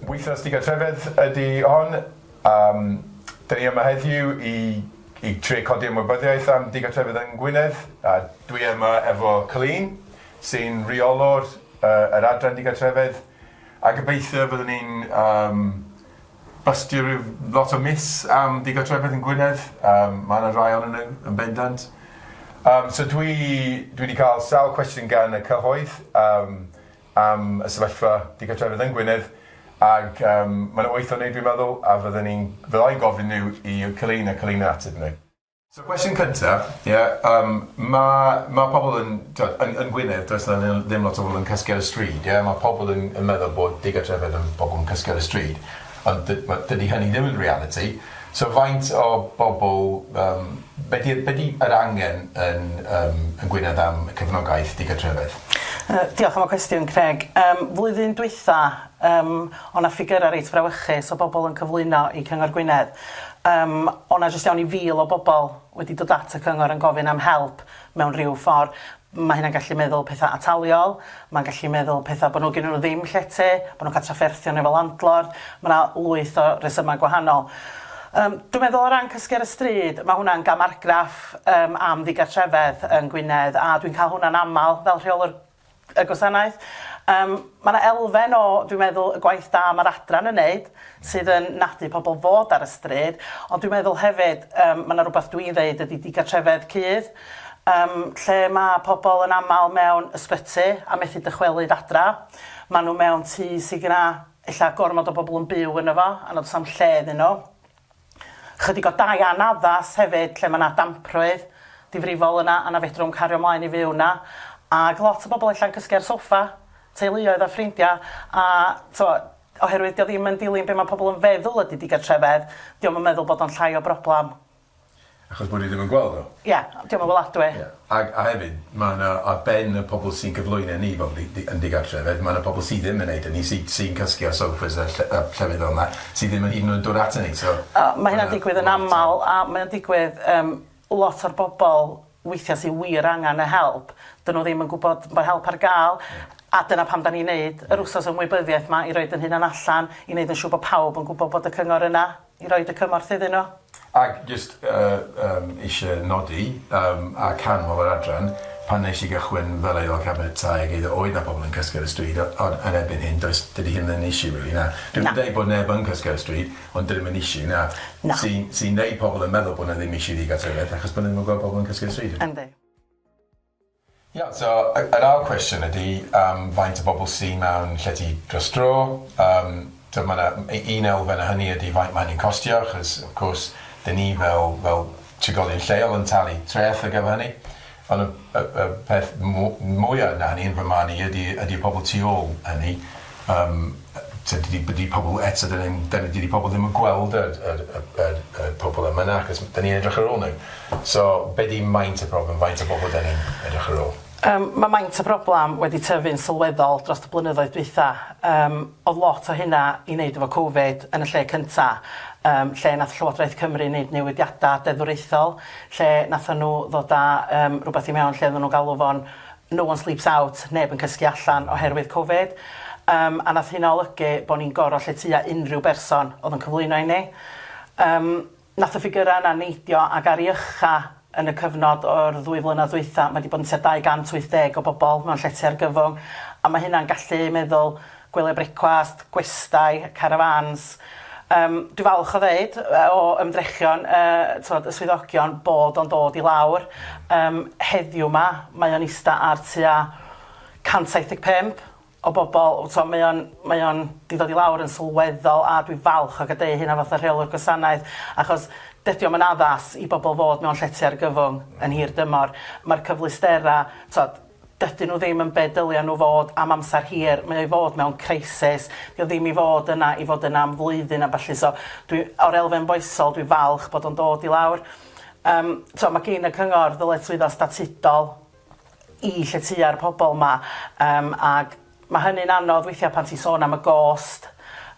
Wythnos digartrefedd ydy hon. Um, Dyn ni yma heddiw i, i tre codi ymwybyddiaeth am digartrefedd yng Ngwynedd. A dwi yma efo Colleen, sy'n rheolwr uh, yr adran digartrefedd. A gobeithio byddwn ni'n um, Basio rhyw lot o myths am ddigartrefedd yn Gwynedd, yym ma' 'na rai onyn nhw yn bendant. Yym so dwi dwi 'di ca'l sawl cwestiwn gan y cyhoedd yym am y sefyllfa digartrefedd yn Gwynedd ag yym ma' 'na wyth o nw dwi'n meddwl a fydden i'n fydda i'n gofyn nhw i Keleina, Keleina ateb nhw. So cwestiwn cynta, ie, yym ma' ma' pobl yn t'od yn yn Gwynedd does 'na ni- ddim lot o bobl yn cysgu ar y stryd ie ma' pobl yn yn meddwl bod digartrefedd yn pobol yn cysgu ar y stryd ond dy- ma' dydi hynny ddim yn realiti so faint o bobol yym be' di'r be' di yr angen yn yym yn Gwynedd am y cefnogaeth digartrefedd? Yy diolch am y cwestiwn Craig. Yym flwyddyn dwytha yym o' 'na ffigyra reit frawychus o bobol yn cyflwyno i Cyngor Gwynedd Yym, o' 'na jyst iawn i fil o bobl wedi dod at y cyngor yn gofyn am help mewn rhyw ffor'. Ma' hynna'n gallu meddwl petha' ataliol, ma'n gallu meddwl petha' bo' nhw gennyn nhw ddim llety, bo' nhw'n ca'l trafferthion efo landlord, ma' 'na lwyth o resyma' gwahanol. Yym, dwi'n meddwl o ran cysgu ar y stryd, ma' hwnna'n gam argraff yym am ddigartrefedd yn Gwynedd, a dwi'n ca'l hwnna'n amal fel rheolwr y gwasanaeth. Yym, ma' 'na elfen o, dwi'n meddwl, y gwaith da ma'r adran yn neud, sydd yn nadu pobl fod ar y stryd, ond dwi'n meddwl hefyd, yym, ma' 'na rwbath dwi'n ddeud ydi digartrefedd cudd, yym, lle ma' pobl yn amal mewn ysbyty a methu dychwelyd adra, ma' nhw mewn tŷ sy' gyna ella gormod o bobl yn byw yno fo a nad o's 'na'm lle iddyn nhw. Chydig o dai anaddas hefyd lle ma' 'na damprwydd difrifol yna a na fedrwn cario mlaen i fyw 'na ag lot o bobol ella'n cysgu ar soffa, teuluoedd a ffrindia a t'mo' oherwydd 'di o ddim yn dilyn be' ma' pobol yn feddwl ydi digartrefedd, 'di o'm yn meddwl bod o'n llai o broblam Achos bod ni ddim yn gweld nhw. Ia, 'di o'm yn weladwy. Ia, ag- a hefyd, ma' 'na, ar ben y pobl sy'n cyflwyno ni fel di- di- yn digartref, hefyd ma' 'na pobl sy ddim yn neud hynny, sy- sy'n cysgu ar sofas a ll- a llefydd fel 'na, sy ddim yn hyd yn oed dod aton ni, so... O, ma' hynna'n digwydd yn amal, a mae o'n digwydd, yym, lot o'r bobl weithia' sy wir angan y help, 'dyn nhw ddim yn gwbod bo' help ar ga'l, a dyna pam 'dan ni'n neud yr wsos ymwybyddiaeth 'ma, i roid 'yn hunan allan, i neud yn siŵr bo' pawb yn gwbo bod y cyngor yna. i roid y cymorth iddyn nhw. Ac jyst eisiau nodi a canmol yr adran, pan wnes i gychwyn fel Aelod Cabinet Tai ag Eiddo oedd 'na pobl yn cysgu ar y stryd ond yn erbyn hyn does... dydy hyn ddim yn issue rili na? Na. Dwi'm yn deud bod neb yn cysgu ar y stryd ond dydi o ddim yn issue na? Na. ...sy'n sy'n neud pobl yn meddwl bod 'na ddim issue ddigartrefedd achos bod nhw ddim yn gweld pobl yn cysgu ar y stryd. Yndi. Iawn, so yr ail cwestiwn ydi yym faint o bobl sy mewn llety dros dro, yym t'od ma' 'na u- un elfen o hynny ydi faint ma' hynny'n costio achos of course 'dyn ni fel fel trigolion lleol yn talu treth ar gyfer hynny on' y y y peth mw- mwya na hynny yn fy marn i ydi ydi y pobol tu ôl hynny. Yym t'od dydi dydi pobol eto dydi e'n dydi dydi pobol ddim yn gweld yr yr y yr y pobol yma na achos m- 'dyn ni'n edrych ar ôl nw. So be' 'di maint y problem faint o bobol 'dyn ni'n edrych ar ôl? Yym ma' maint y broblam wedi tyfu'n sylweddol drost y blynyddoedd dwytha, yym odd lot o hynna i neud efo covid yn y lle cynta yym lle nath Llywodraeth Cymru neud newidiada deddfwriaethol lle nathon nw ddod â yym rwbeth i mewn lle oddan nw'n galw fo'n No one sleeps out, neb yn cysgu allan oherwydd Covid, yym a nath hynna olygu bo' ni'n goro lle tua unrhyw berson o'dd yn cyflwyno i ni. Yym nath y ffigyra yna neidio ag ar i ucha yn y cyfnod o'r ddwy flynadd dwytha ma' 'di bod yn tua 280 o bobol mewn llety argyfwng a ma' hynna'n gallu meddwl gwyliau brecwast, gwestai, carafáns. Yym, dwi'n falch o ddeud, o ymdrechion y, t'mod, y swyddogion, bod o'n dod i lawr. Yym, heddiw 'ma, mae o'n ista ar tua 175 o bobl. T'mo', mae o'n, mae o'n 'di dod i lawr yn sylweddol, a dwi'n falch o gadeu hynna fatha rheolwr gwasanaeth, achos dydi o'm yn addas i bobl fod mewn llety argyfwng yn hir dymor. Ma'r cyfleusterau, t'mod, Dydyn nhw ddim yn be dylia nhw fod am amser hir, mae o i fod mewn crisis, dio ddim i fod yna i fod yna am flwyddyn a ballu, so dwi, o'r elfen foesol dwi'n falch bod o'n dod i lawr. Yym t'o' ma' gin y cyngor ddyletswyddo statudol i lletyua'r pobol 'ma yym ag ma' hynny'n anodd weithia' pan ti'n sôn am y gost,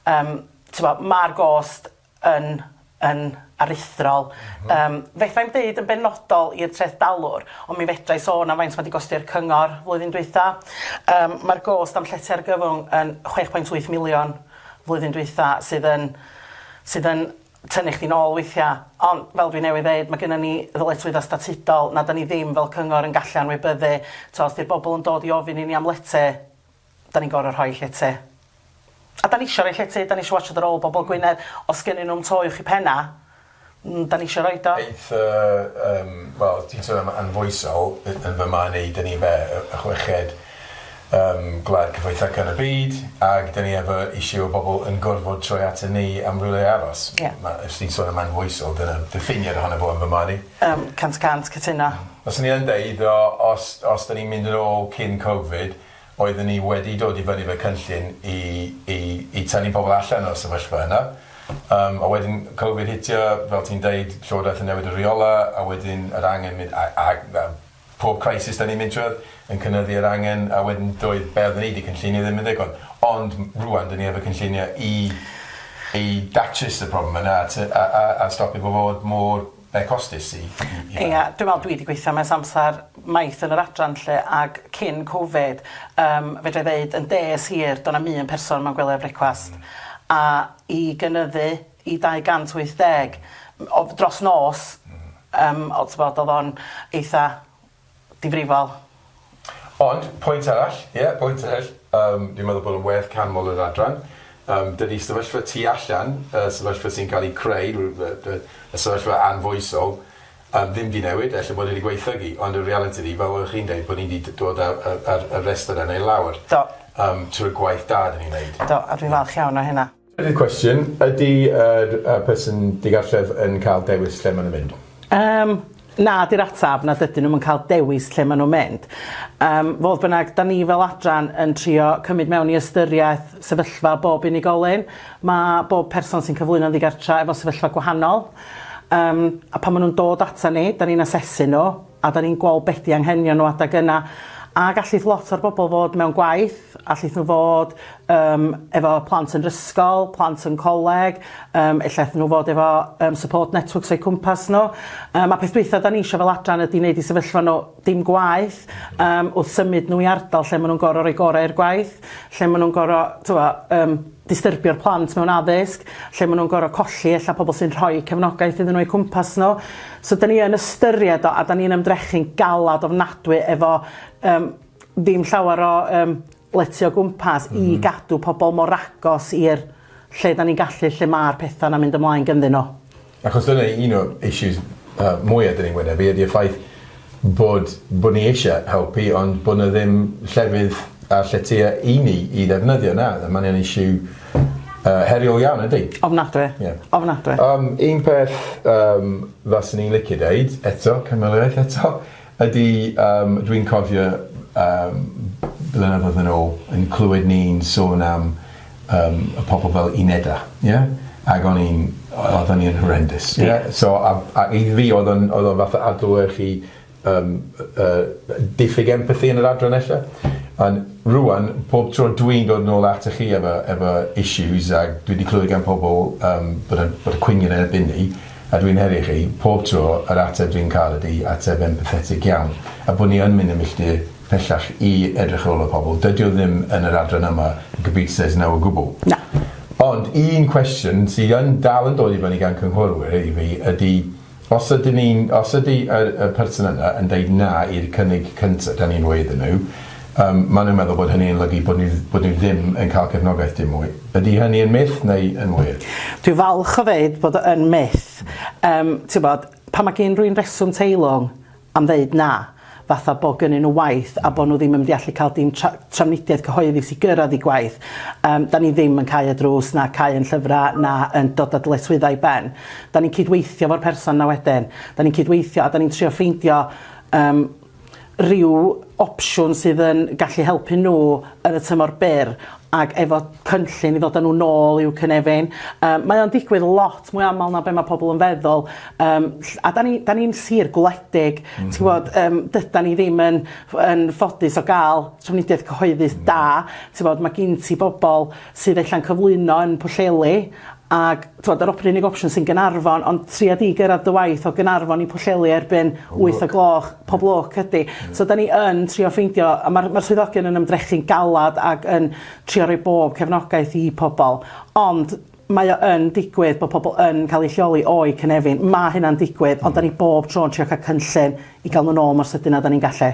yym t'bo' ma'r gost yn yn aruthrol. Yym, fedra i'm deud yn benodol i'r treth dalwr, ond mi fedra i sôn am faint ma' 'di gosti'r cyngor flwyddyn dwytha. Yym, ma'r gost am llety argyfwng yn chwech pwynt wyth miliwn flwyddyn dwytha, sydd yn sydd yn tynnu chdi'n ôl weithia'. Ond fel dwi newydd ddeud, ma' gynnon ni ddyletswydda statudol na 'dan ni ddim fel cyngor yn gallu anwybyddu. T'o' os 'di'r bobol yn dod i ofyn i ni am lety, Da ni'n gor'o' rhoi lle te. A da nisio roi lle te, da nisio watsiad ar ôl bobol Gwynedd, os gynnyn nw'm to uwch 'u penna', mm, da nisio roid o. Aeth y yym, wel, ti'n sôn am anfoesol, y- yn fy marn i, da ni be', y y chweched yym gwlad cyfoethoca yn y byd, ag da ni efo issue o bobol yn gorfod troi aton ni am rywle i aros. Ie. Ma', os ti'n sôn am anfoesol, dyna diffiniad ohono fo yn fy marn i. Yym, cant y cant cytuno. Fyswn i yn deud, o, os os da ni'n mynd yn ôl cyn Covid, Oeddwn i wedi dod i fyny 'fo cynllun i i i tynnu pobl allan o'r sefyllfa yna, yym a wedyn Covid hitio, fel ti'n deud, Llywodraeth yn newid y rheola', a wedyn yr angen mynd a a a pob crisis 'dan ni'n mynd trwyadd yn cynyddu yr angen, a wedyn doedd be' odden ni 'di cynllunio ddim yn ddigon. Ond m- rŵan 'dyn ni efo cynllunio i i datrys y problem yna a t- a a a stopio fo fod mor Mae costus i i i fynna. Ia dwi me'wl dwi 'di gweithio am ers amsar maith yn yr adran 'lly ag cyn covid yym fedrai ddeud yn des hir do' 'na'm un person mewn gwely a brecwast a i gynyddu i dau gant wyth deg m- o- dros nos yym o t'bod o'dd o'n eitha difrifol. Ond, pwynt arall, ie, pwynt arall, yym, dwi'n meddwl bod o'n werth canmol yr adran. Yym, dydy sefyllfa tu allan, y sefyllfa sy'n cael ei creu, y sefyllfa anfoesol, yym, ddim 'di newid, ella bod e 'di gwaethygu, ond y realiti ydi, fel oeddech chi'n deud, bod ni 'di d- dod â y yr y rhestr yna i lawr... Do. ...yym, trwy gwaith da 'dan ni'n neud. Do, a dwi'n falch iawn o hynna. Trydydd cwestiwn, ydy yr yy person digartref yn cael dewis lle maen nhw'n mynd? Yym, na 'di'r ateb, na dydyn nhw'm yn cael dewis lle maen nhw'n mynd. Yym, fodd bynnag, 'dan ni fel adran yn trio cymryd mewn i ystyriaeth sefyllfa bob unigolyn. Ma' bob person sy'n cyflwyno'n ddigartra efo sefyllfa gwahanol, yym a pan ma' nhw'n dod atan ni, 'dan ni'n asesu nhw, a 'dan ni'n gweld be' 'di anghenion nhw adeg yna, a gallith lot o'r bobl fod mewn gwaith, allith nhw fod yym efo plant yn 'r ysgol, plant yn coleg, yym ella 'thyn nhw fod efo yym support networks o'u cwmpas nhw, yym a peth dwytha 'dan ni isio fel adran ydi neud i sefyllfa nhw dim gwaeth yym wrth symud nhw i ardal lle ma' nhw'n gor'o' roi gore' i'r gwaith, lle ma' nhw'n gor'o' t'mo' yym distyrbio'r plant mewn addysg, lle maen nhw'n gorfod colli ella pobl sy'n rhoi cefnogaeth iddyn nhw o'u cwmpas nhw. So 'dan ni yn ystyried o a 'dan ni'n ymdrechu'n galad ofnadwy efo yym ddim llawer o yym lety o gwmpas i gadw pobl mor agos i'r lle 'dan ni'n gallu lle ma'r petha 'na'n mynd ymlaen ganddyn nhw. Achos dyna un o'r issues yy mwya 'dyn ni'n wynebu ydi'r ffaith bod bo' ni eisie helpu ond bo' 'na ddim llefydd a lletya i ni i ddefnyddio na a ma'n yn issue yy heriol iawn ydi? Ofnadwy. Ie. Ofnadwy. Yym un peth yym faswn i'n licio deud eto cynwaliaeth eto Ydy, yym, dwi'n cofio, yym, blynyddoedd yn ôl, yn clywed ni'n sôn am, yym, y pobl fel unedau, ie? Ac o'n i'n... oeddwn ni yn horrendous, ie? Ie. So, a a i fi, oedd o'n oedd o fatha adlewyrchu, yym, y y diffyg empathi yn yr adran ella. Ond rŵan, pob tro dwi'n dod nôl atoch chi efo efo issues, a dwi 'di clywed gan pobl, yym, bod y bod y cwyn yn erbyn ni, A dwi'n herio chi, pob tro, yr ateb dwi'n cael ydi ateb empathetig iawn, a bod ni yn mynd yn milltir pellach i edrych ar ôl y pobl. Dydi o ddim yn yr adran yma, y Gabita says no o gwbl. Na. Ond un cwestiwn sydd yn dal yn dod i fyny gan cynghorwyr i fi ydi, os ydyn ni'n, os ydi y y person yna yn deud na i'r cynnig cynta 'dan ni'n roi iddyn nhw, Yym, maen nhw'n meddwl bod hynny yn olygu bod ni bod ni ddim yn cael cefnogaeth dim mwy. Ydy hynny yn myth neu yn wir? Dwi'n falch o ddeud bod o yn myth. Yym, tibod, pan mae gyn rywun reswm teilwng am ddeud na, fatha bod gynnyn nhw waith a bod nhw ddim yn mynd i allu cael dim tra- trafnidiaeth cyhoeddus i gyrraedd eu gwaith, yym, dan ni ddim yn cau y drws na cau ein llyfrau na yn dod â dyletswyddau i ben. Dan ni'n cydweithio efo'r person yna wedyn. Dan ni'n cydweithio a dan ni'n trio ffeindio yym, ryw opsiwn sydd yn gallu helpu nhw yn y tymor byr ac efo cynllun i ddod a nhw nôl i'w cynefin. Yym mae o'n digwydd lot mwy aml na be' ma' pobl yn feddwl yym ll- a 'dan ni 'dan ni'n sir gwledig ti'n gwbod yym dydan ni ddim yn ff- yn ffodus o ga'l trafnidiaeth cyhoeddus da t'bod ma' gin ti bobol sydd ella'n cyflwyno yn Pwllheli ag t'wod yr op- unig opsiwn sy'n Gaernarfon ond tria di gyrradd dy waith o Gaernarfon i Pwllheli erbyn wyth o gloch pob lwc ydi so 'dan ni yn trio ffeindio a ma'r ma'r swyddogion yn ymdrechu'n galad ag yn trio roi bob cefnogaeth i pobol ond mae o yn digwydd bo' pobol yn ca'l eu lleoli o'u cynefin ma' hynna'n digwydd ond 'dan ni bob tro'n trio ca'l cynllun i ga'l n'w nôl mor sydyn a 'dan ni'n gallu.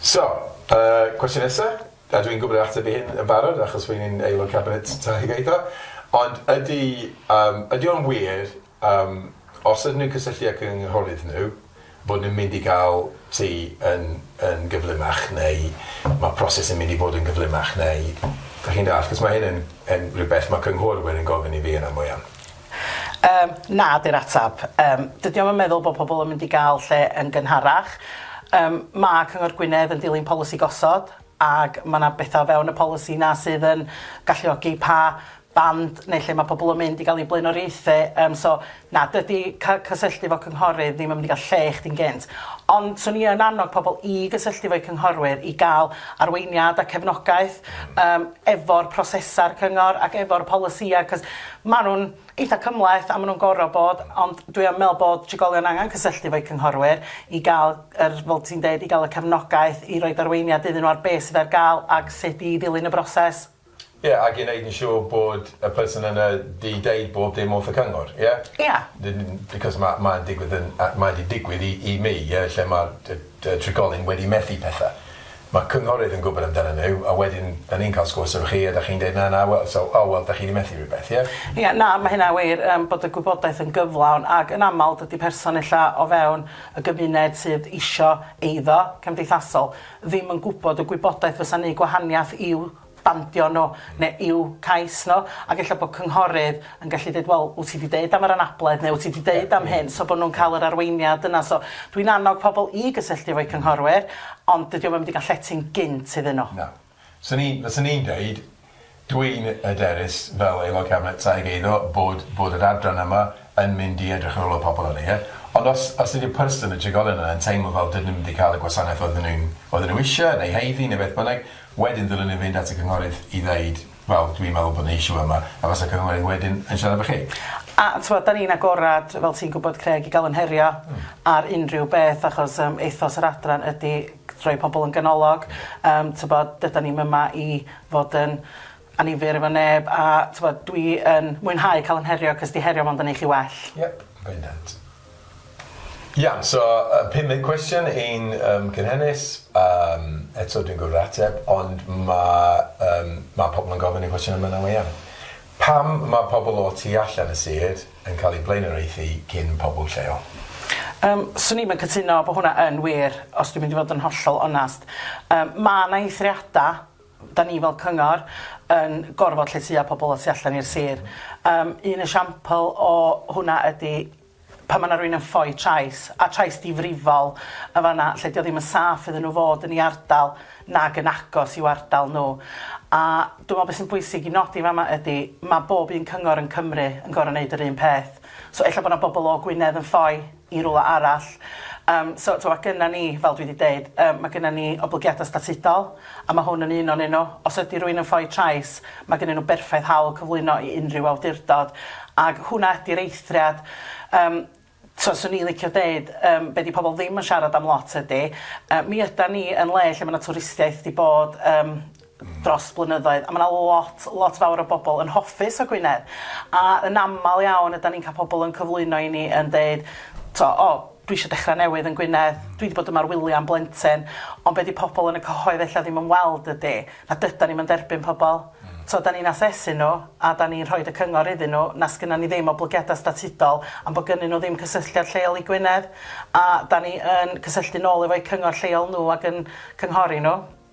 So, y cwestiwn nesa, a dwi'n gwybod yr ateb i hyn yn barod achos rwy'n un Aelod Cabinet Teg a Eiddo, ond ydy yym ydy o'n wir yym os ydyn nhw'n cysylltu â cynghorydd nhw bod nhw'n mynd i gael tŷ yn yn gyflymach neu ma' proses yn mynd i fod yn gyflymach neu dach chi'n dallt achos ma' hyn yn yn rhywbeth ma' cynghorwyr yn gofyn i fi yn aml iawn. Yym, na 'di'r ateb. Yym, dydi o'm yn meddwl bod pobl yn mynd i gael lle yn gynharach. Yym, ma' Cyngor Gwynedd yn dilyn polisi gosod, ac ma' 'na betha o fewn y polisi 'na sydd yn galluogi pa band neu lle ma' pobl yn mynd i gael eu blaenoriaethu, yym so na, dydi ca- cysylltu efo cynghorydd ddim yn mynd i gael lle i chdi'n gynt. Ond 'swn i yn annog pobl i gysylltu efo'u cynghorwyr i gael arweiniad a cefnogaeth yym efo'r prosesau'r cyngor ac efo'r polisïau, 'c'os Maen nhw'n eitha' cymhleth a maen nhw'n gorfod bod, ond dwi yn meddwl bod trigolion angen cysylltu efo'u cynghorwyr i gael yr, fel ti'n deud, i gael y cefnogaeth i roid arweiniad iddyn nhw ar be' sydd ar gael ac sut i ddilyn y broses. Ie, ac i wneud yn siŵr bod y person yna 'di deud bob dim wrth y cyngor, ie? Ie. N- n- because ma' ma'n digwydd yn yy mae 'di digwydd i i mi, ie, lle ma'r yy yy trigolyn wedi methu pethe. Mae cynghorydd yn gwybod amdanyn nhw a wedyn dan ni'n cael sgwrs efo chi a dach chi'n deud na na wel so o wel dach chi di methu rhywbeth ie? Ie na mae hynna'n wir yym bod y gwybodaeth yn gyflawn ag yn aml dydi person ella o fewn y gymuned sydd isio eiddo cymdeithasol ddim yn gwybod y gwybodaeth fysa'n neu gwahaniath i'w dandio nhw neu i'w cais nhw, ac ella bod cynghorydd yn gallu deud, wel, wyt ti 'di deud am yr anabledd neu wyt ti 'di deud am hyn, so bod nhw'n cael yr arweiniad yna. So dwi'n annog pobl i gysylltu efo'u cynghorwyr, ond dydi o'm yn mynd i gael llety'n gynt iddyn nhw. Na. 'Swn i'n, fyswn i'n deud, dwi'n hyderus fel Aelod Cabinet Tai ac Eiddo bod bod yr adran yma yn mynd i edrych ar ôl y pobl yna, ie? Ond os os ydy'r person, y trigolyn yna yn teimlo fel dydyn nhw'm 'di cael y gwasanaeth oedden nhw'n oedden nhw isie neu haeddu neu beth bynnag, Wedyn ddylwn i fynd at y cynghorydd i ddeud, wel, dwi'n meddwl bod 'na issue yma, a fasa'r cynghorydd wedyn yn siarad efo chi. A t'mod, 'dan ni'n agored, fel ti'n gwbod Craig, i ga'l 'yn herio ar unrhyw beth achos yym ethos yr adran ydi g- rhoi pobol yn ganolog yym t'bod dydan ni'm yma i fod yn annifyr efo neb a t'mod dwi yn mwynhau ca'l 'yn herio 'c'os 'di herio mond yn neu' chi well. Yep, bendant. Iawn, so yy pum munud cwestiwn i'n yym cynhenus, yym eto dwi'n gwbod yr ateb ond ma' yym ma' pobol yn gofyn y cwestiwn yma nawr iawn. Pam ma' pobol o tu allan y sir yn ca'l eu blaenoriaethu cyn pobol lleol? Yym swn i'm yn cytuno bo hwnna yn wir os dwi'n mynd i fod yn hollol onast. Yym ma' 'na eithriada 'Da ni fel cyngor yn gorfod lletya pobl y tu allan i'r sir. Yym un esiampl o hwnna ydi pan ma' 'na rywun yn ffoi trais, a trais difrifol yn fan 'na lle 'di o ddim yn saff iddyn nhw fod yn ei ardal nag yn agos i'w ardal nhw. A dwi me'wl be' sy'n bwysig i nodi fan 'ma ydi ma' bob un cyngor yn Cymru yn gor'o' neud yr un peth. So ella bo' 'na bobl o Gwynedd yn ffoi i rywle arall. Yym, so, t'mo', ma' gynna ni, fel dwi 'di deud, yy ma' gynna ni oblygiada statudol, a ma' hwn yn un o'nyn nw. Os ydi rywun yn ffoi trais, ma' gynnyn nw berffaith hawl cyflwyno i unrhyw awdurdod, ag hwnna ydi'r eithriad. Yym, t'mo', swn i'n licio deud, yym, be' 'di pobol ddim yn siarad am lot ydi, yy, mi ydan ni yn le lle ma' 'na twristiaeth 'di bod, yym, dros blynyddoedd a ma' 'na lot lot fawr o bobol yn hoffus o Gwynedd a yn amal iawn ydan ni'n ca'l pobol yn cyflwyno i ni yn deud t'o' o dwi isio dechra newydd yn Gwynedd dwi 'di bod yma ar wylia am blentyn ond be' 'di pobol yn y cyhoedd ella ddim yn weld ydi na dydan ni'm yn derbyn pobol t'o' 'dan ni'n asesu n'w a 'dan ni'n rhoid y cyngor iddyn n'w na sgynna ni ddim oblygiada statudol am bo' gynnyn n'w ddim cysylltiad lleol i Gwynedd a 'dan ni yn cysylltu nôl efo'u cyngor lleol n'w ag yn cynghori n'w.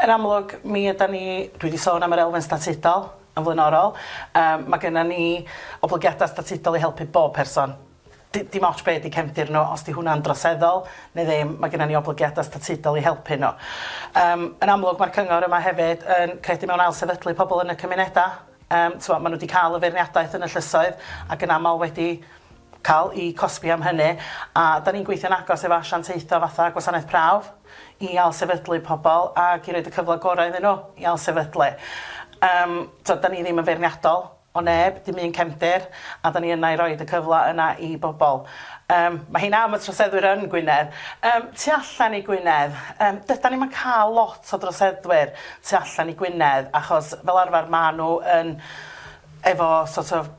Yn amlwg, mi ydan ni, dwi 'di sôn am yr elfen statudol yn flaenorol, yym ma' gynnon ni oblygiada statudol i helpu bob person. D- dim ots be' 'di cefndir nw, os 'di hwnna'n droseddol ne' ddim, ma' gynnon ni oblygiada statudol i helpu nw. Yym yn amlwg ma'r cyngor yma hefyd yn credu mewn ailsefydlu pobol yn y cymuneda. Yym, t'mo', ma' nhw 'di ca'l y feirniadaeth yn y llysoedd, ac yn amal wedi ca'l 'u cosbi am hynny, a 'dan ni'n gweithio'n agos efo asiantaethau fatha Gwasanaeth Prawf i ailsefydlu pobl ac i roid y cyfle gorau iddyn nhw i ailsefydlu. Yym, t'od, 'dan ni ddim yn feirniadol o neb, dim un cefndir, a 'dan ni yna i roid y cyfle yna i bobl. Yym, ma' hynna am y troseddwyr yn Gwynedd. Yym, tu allan i Gwynedd, yym, dydan ni'm yn ca'l lot o droseddwyr, tu allan i Gwynedd achos fel arfer ma nhw yn efo sort of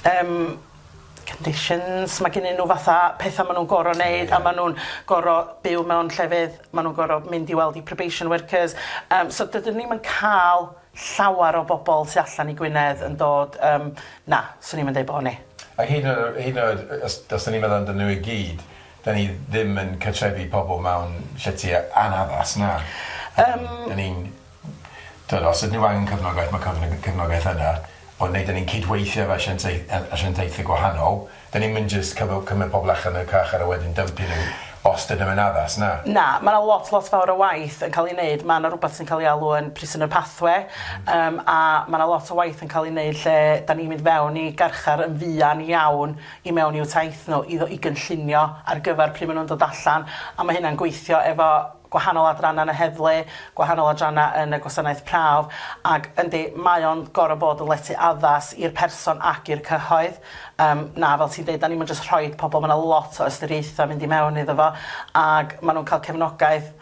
yym conditions ma gynnyn nhw fatha petha ma nhw'n goro neud a ma nhw'n goro byw mewn llefydd ma nhw'n goro mynd i weld i probation workers yym so dydyn ni'm yn ca'l llawar o bobol tu allan i Gwynedd yn dod yym na swn i'm yn deud bo ni. A hyd yn oed hyd yn oed os os 'dyn ni'n meddwl amdanyn nhw i gyd 'dan ni ddim yn cartrefu pobol mewn llety a- anaddas na? Yym. 'Dyn ni'n t'od os ydyn nw angen cefnogaeth ma' cyfno- yy cefnogaeth yna ond neu' 'dyn ni'n cydweithio efo asiantaeth- yy asiantaethe gwahanol 'dyn ni'm yn jyst cyfo- cymryd pobol allan y carchar a wedyn dympio n'w os 'dyn nw'm yn addas na? Na ma' 'na lot lot fawr o waith yn ca'l 'i neud ma' 'na rwbath sy'n ca'l 'i alw yn prisoner pathway yym a ma' 'na lot o waith yn ca'l 'i neud lle 'dan ni'n mynd fewn i garchar yn fuan iawn i mewn i'w taith nhw i i gynllunio ar gyfer pryd maen nhw'n dod allan, a mae hynna'n gweithio efo gwahanol adrannau yn y heddlu, gwahanol adrannau yn y gwasanaeth prawf, ac yndi, mae o'n gorfod bod yn letu addas i'r person ac i'r cyhoedd. Yym, na, fel ti'n deud, 'dan ni'm yn jyst rhoid pobl, ma' 'na lot o ystyriaethau mynd i mewn iddo fo, ac maen nhw'n cael cefnogaeth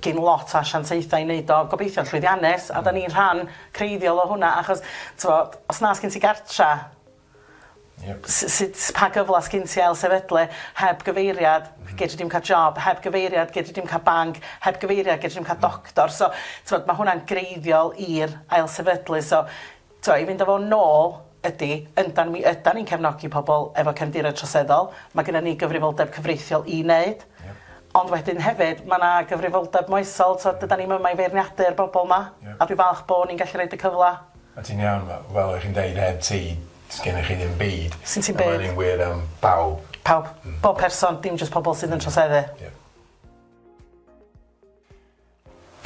gin lot o asiantaethau i wneud o, gobeithio'n llwyddiannus, a 'dan ni'n rhan creiddiol o hwnna, achos, t'mod, os na sgin ti gartre, Sut, pa gyfle sgin ti ail sefydlu? Heb gyfeiriad, gedri dim cael job. Heb gyfeiriad, gedri dim cael banc. Heb gyfeiriad, gedri dim cael doctor. So, t'mod, ma' hwnna'n greiddiol i'r ail sefydlu. So, t'mo', i fynd â fo nôl ydi, yndan, mi ydan ni'n cefnogi pobl efo cefndiroedd troseddol. Ma' gynnon ni gyfrifoldeb cyfreithiol i neud. Ie. Ond wedyn hefyd, ma' 'na gyfrifoldeb moesol. T'od, dydan ni'm yma i feirniadu'r bobol 'ma. Ie. A dwi falch bo' ni'n gallu roid y cyfla A ti'n iawn fel fel o' chi'n deud heb ti sgennych chi ddim byd. Sgin ti'm byd. A ma' ynny'n wir am bawb. Pawb. Hmm. Bob person dim jyst pobol sydd yn troseddu. Ie.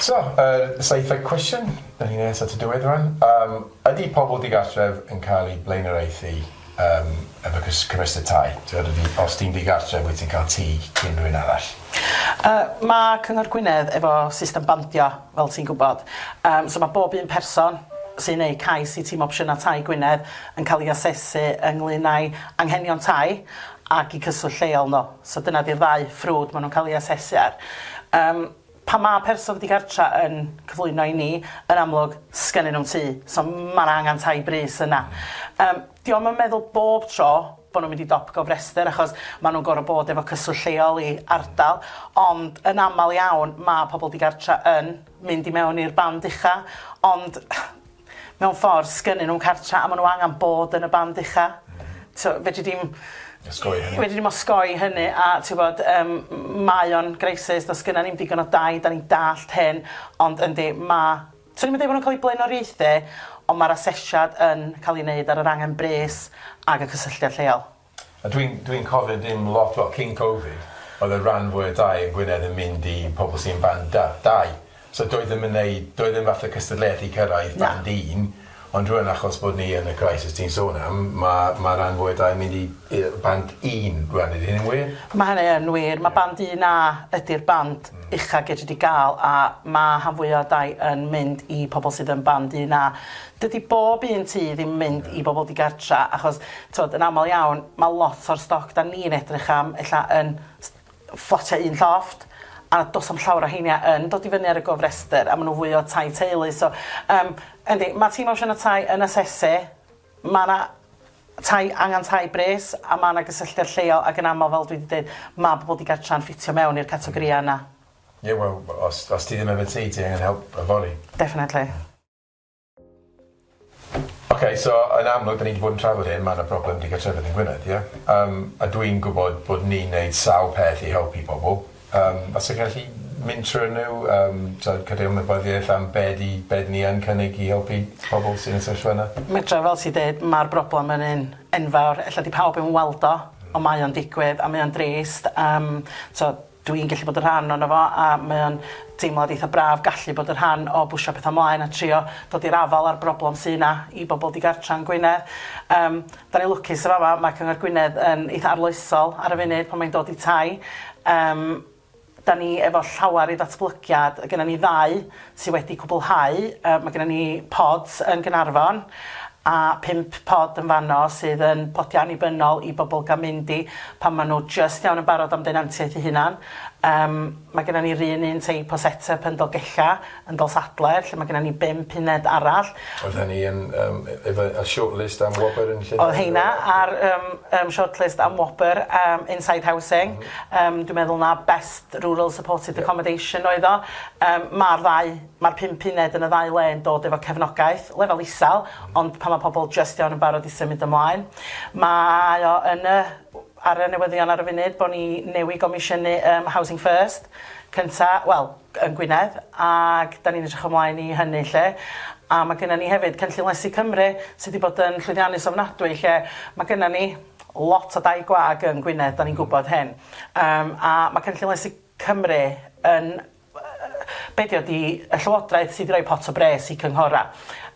So yr seithfed cwestiwn, 'dan ni nes at y diwedd rŵan, yym ydi pobol digartref yn ca'l eu blaenoriaethu yym efo cys- cofrestyr tai? T'wod ydi os ti'n digartref wyt ti'n ca'l tŷ cyn rywun arall? Yy ma' Cyngor Gwynedd efo system bandio fel ti'n gwybod. Yym, so mae bob un person sy'n gwneud cais i Tîm Opsiynau Tai Gwynedd yn cael ei asesu ynglŷn â'i anghenion tai ac i cyswllt lleol nhw. So dyna 'di'r ddau ffrwd maen nhw'n cael ei asesu ar. Yym, pan mae person digartra' yn cyflwyno i ni, yn amlwg, 'sgennyn nhw'm tŷ, so ma' 'na angen tai brys yna. Yym. Dio'm yn meddwl bob tro bo' nhw'n mynd i dop gofrestr achos ma' nhw'n gor'o' bod efo cyswllt lleol i ardal, ond yn amal iawn ma' pobol digartra yn mynd i mewn i'r band ucha', ond mewn ffor sgynnyn nhw'm cartra a ma' nhw angan bod yn y band ucha'. T'o' fedri di'm... Osgoi hynny. ...fedri di'm osgoi hynny a t'wbod yym m- mae o'n greisys do's gynna ni'm digon o dai 'dan ni'n dallt hyn ond yndi ma' Swn i'm yn deud bod nhw'n cael eu blaenoriaethu, ond mae'r asesiad yn cael ei wneud ar yr angen bres ac y cysylltiad lleol. A dwi'n dwi'n cofio dim lot, wel cyn Covid oedd y ran fwy o dai yn Gwynedd yn mynd i pobl sy'n band da, dau, so doedd ddim yn wneud, doedd ddim fath o cystadleuaeth i cyrraedd band un, Ond rŵan achos bod ni yn y crisis ti'n sôn am, ma' ma' ran fwy o dai yn mynd i yy band un rŵan ydi hynny'n wir? Ma' hynny yn wir ma' band un A ydi'r band ucha gei di ga'l a ma' rhan fwya o dai yn mynd i pobol sydd yn band un A. Dydi bob un tŷ ddim mynd i bobol digartra achos t'od yn amal iawn ma' lot o'r stoc 'dan ni'n edrych am ella yn ffotiau un llofft a does na'm llawer o heina yn dod i fyny ar y gofrestr a maen nhw fwy o tai teulu so yym yndi mae tîm opsiynau tai yn asesu mae 'na tai angen tai bres a mae 'na gysylltiad lleol ac yn aml fel dwi 'di deud mae pobl digartra'n ffitio mewn i'r categoria yna. Ie wel os os ti ddim efo tŷ ti angen help yfory. Definitely. Oce so yn amlwg 'dyn ni 'di bod yn trafod hyn ma' 'na problem digartrefedd yn Gwynedd ie? Yym a dwi'n gwbod bod ni'n neud sawl peth i helpu pobol yym fase chi gallu mynd trw'r nw yym t'od cadw ymwybyddiaeth am be' 'di be' 'dyn ni yn cynnig i helpu pobol sy'n y sefyllfa yna? Medra fel ti deud ma'r broblem yn un enfawr ella 'di pawb 'im yn weld o on' mae o'n digwydd a mae o'n drist yym t'o' Dw i'n gallu bod yn rhan ohono fo a mae o'n deimlad eitha braf gallu bod yn rhan o bwsio pethau mlaen a trio dod i'r afael â'r broblem sy' 'na i bobl digartra yn Gwynedd. Yym, 'dan ni'n lwcus yn fama, mae Cyngor Gwynedd yn eitha arloesol ar y funud pan mae'n dod i tai. Yym, 'dan ni efo llawer i ddatblygiad, gynnon ni ddau sy wedi cwblhau, yy ma' gynnon ni pods yn Gaernarfon a pump pod yn fanno sydd yn podia annibynnol i bobol ga'l mynd i pan ma' nw jyst iawn yn barod am denantiaeth 'u hunan yym ma' gynnon ni'r un un teip o set up yn Dolgella yn Dolsadler lle ma' gynnon ni bump uned arall. Oedd hynny yn yym e- efo y short list am wobr yn Llundain? O'dd heina ar yym yym short list am wobr yym inside housing yym dwi meddwl 'na best Rural Supported Accommodation oedd o. Yym ma'r ddau ma'r pump uned yn y ddau le yn dod efo cefnogaeth lefel isel ond pan ma' pobol jyst iawn yn barod i symud ymlaen mae o yn y w- ar y newyddion ar y funud bo' ni newy gomisiynu yym Housing First cynta wel g- yn Gwynedd ag 'dan ni'n edrych ymlaen i hynny 'lly a ma' gynnon ni hefyd cynllun lesu Cymru sy' 'di bod yn llwyddiannus ofnadwy lle ma' gynnon ni lot o dai gwag yn Gwynedd 'dan ni'n gwbod hyn. Yym a ma' cynllun lesu Cymru yn be' dio di y llywodraeth sydd i roi pot o bres i cynghora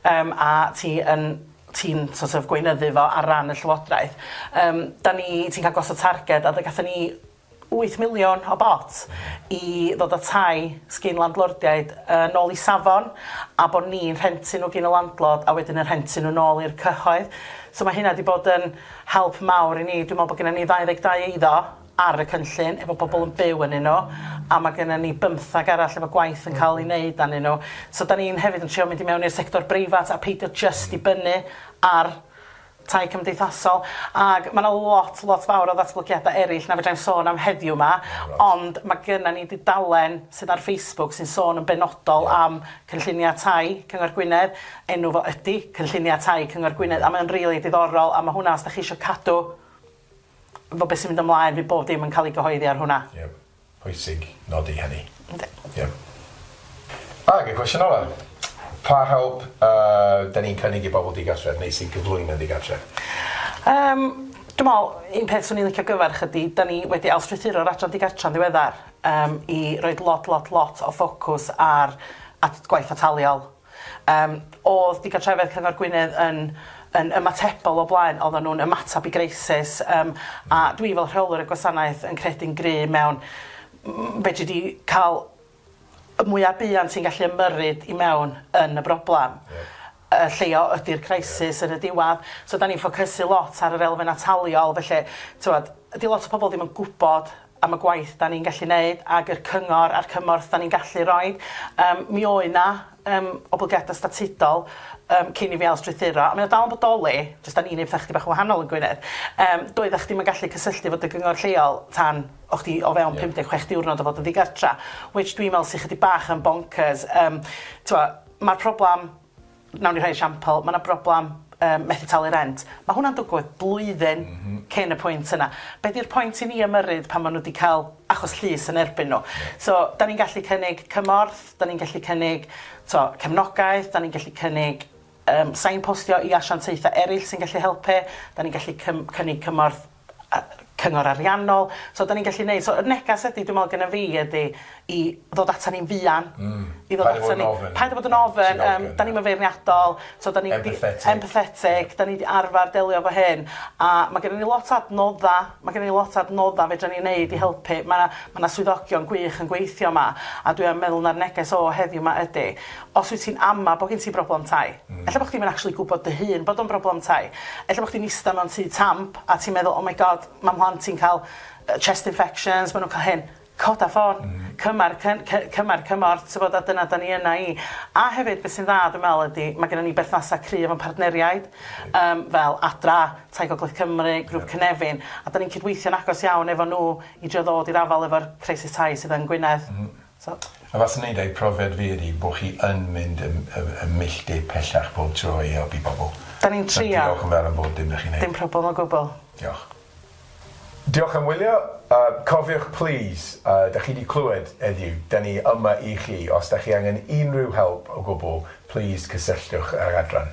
yym a ti yn ti'n sort of gweinyddu fo ar ran y llywodraeth yym da ni ti'n ca'l gosod targed a fe gatho ni wyth miliwn o bot i ddod a tai sgin landlordiaid yy nôl i safon a bo ni'n rhentu nw gin y landlord a wedyn yn rhentu nw nôl i'r cyhoedd so ma' hynna di bod yn Help mawr i ni. Dwi'n meddwl bod gennym ni 22 eiddo ar y cynllun efo pobl yn byw ynnyn nhw a mae gennym ni bymtheg arall efo gwaith yn cael ei wneud arnyn nhw. So dan ni'n hefyd yn trio mynd i mewn i'r sector breifat a peidio jyst dibynnu ar tai cymdeithasol. Ac mae 'na lot, lot fawr o ddatblygiadau eraill na fedra i'm sôn am heddiw 'ma, ond mae gennym ni dudalen sydd ar Facebook sy'n sôn yn benodol am Cynlluniau Tai Cyngor Gwynedd, enw fo ydi Cynlluniau Tai Cyngor Gwynedd, a mae o'n rili diddorol, a ma' hwnna os 'dach chi isio cadw 'fo be' sy'n mynd ymlaen, fydd bob dim yn ca'l 'i gyhoeddi ar hwnna. Ie, pwysig nodi hynny. Yndi. Ie. Ag y cwestiwn ola, pa help yy 'dan ni'n cynnig i bobl digartref neu sy'n cyflwyno digartref? Yym, dwi me'wl un peth swn i'n licio gyfarch ydi 'dan ni wedi ail-strwythuro'r adran digartra'n ddiweddar. yym i roid lot lot lot o ffocws ar at gwaith ataliol. Yym o'dd digartrefedd Cyngor Gwynedd yn yn ymatebol o blaen oedden nhw'n ymatab i greisus yym a dwi fel rheolwr y gwasanaeth yn credu'n gry mewn m- fedri di ca'l y mwya buan ti'n gallu ymyrryd i mewn yn y broblam. Ie. y lleia ydy'r crisis yn y diwadd. So 'dan ni'n ffocysu lot ar yr elfen ataliol, felly t'mod, 'di lot o pobol ddim yn gwbod am y gwaith 'dan ni'n gallu neud ag yr cyngor a'r cymorth 'dan ni'n gallu roid. Yym mi oedd 'na yym oblygiada statudol yym cyn i fi ail strwythuro, a mae o dal yn bodoli, jyst 'dan ni'n neud petha chydig bach yn wahanol yn Gwynedd. Yym doedda chdi'm yn gallu cysylltu efo dy gyngor lleol tan o' chdi o fewn 56 diwrnod o fod yn ddigartra, which dwi'n me'wl sy chydig bach yn bonkers, yym t'mo' Mae'r problem, wnawn ni rhoi esiampl, mae 'na broblem yym methu talu rent. Mae hwnna'n dwgwyd blwyddyn cyn y pwynt yna. Be 'di'r pwynt i ni ymyrryd pan maen nhw 'di cael achos llys yn erbyn nhw? So, dan ni'n gallu cynnig cymorth, dan ni'n gallu cynnig tibod cefnogaeth, dan ni'n gallu cynnig yym sain-postio i asiantaethau eraill sy'n gallu helpu, dan ni'n gallu cym- cynnig cymorth cyngor ariannol so 'dan ni'n gallu neud so y negas ydi dwi me'wl gynna fi ydi i ddod atan ni'n fuan. Hmm. I ddod atan ni. Paid a bod yn ofyn. Paid a bod yn ofyn yym 'dan ni'm yn feirniadol so 'dan ni 'di... Empathetic. Empathetic 'dan ni 'di arfar delio efo hyn a ma' gynnon ni lot o adnodda ma' gynnon ni lot o adnodda fedran ni neud i helpu ma' 'na ma' 'na swyddogion gwych yn gweithio 'ma a dwi yn meddwl ma'r neges o heddiw 'ma ydi os wyt ti'n ama' bo' gin ti broblem tai Ella bod chdi'm yn actually gwybod dy hun bod o'n broblem tai. Ella bod chdi'n ista mewn tŷ tamp a ti'n meddwl 'oh my god, mae mhlant i'n cael chest infections, maen nhw'n cael hyn'. Coda ffôn, cymar cy- cy- cymar cymorth tibod a dyna 'da ni yna i. A hefyd beth sy'n dda dwi'n meddwl ydi mae genna ni berthnasau cryf efo'n partneriaid yym fel Adra, Tai Gogledd Cymru, Grŵp Cynefin a 'da ni'n cydweithio'n agos iawn efo nhw i drio ddod i'r afael efo'r crisis tai sydd yn Gwynedd. A fath wneud eu profiad fi ydi bo chi yn mynd y y y milltir pellach pob tro i helpu pobl. Da ni'n trio. So diolch yn fawr am bob dim da chi'n neud. Dim problem o gwbl. Diolch. Diolch am wylio. A cofiwch plîs, a da chi di clywed eddiw, da ni yma i chi. Os da chi angen unrhyw help o gwbl, plîs cysylltwch â'r adran.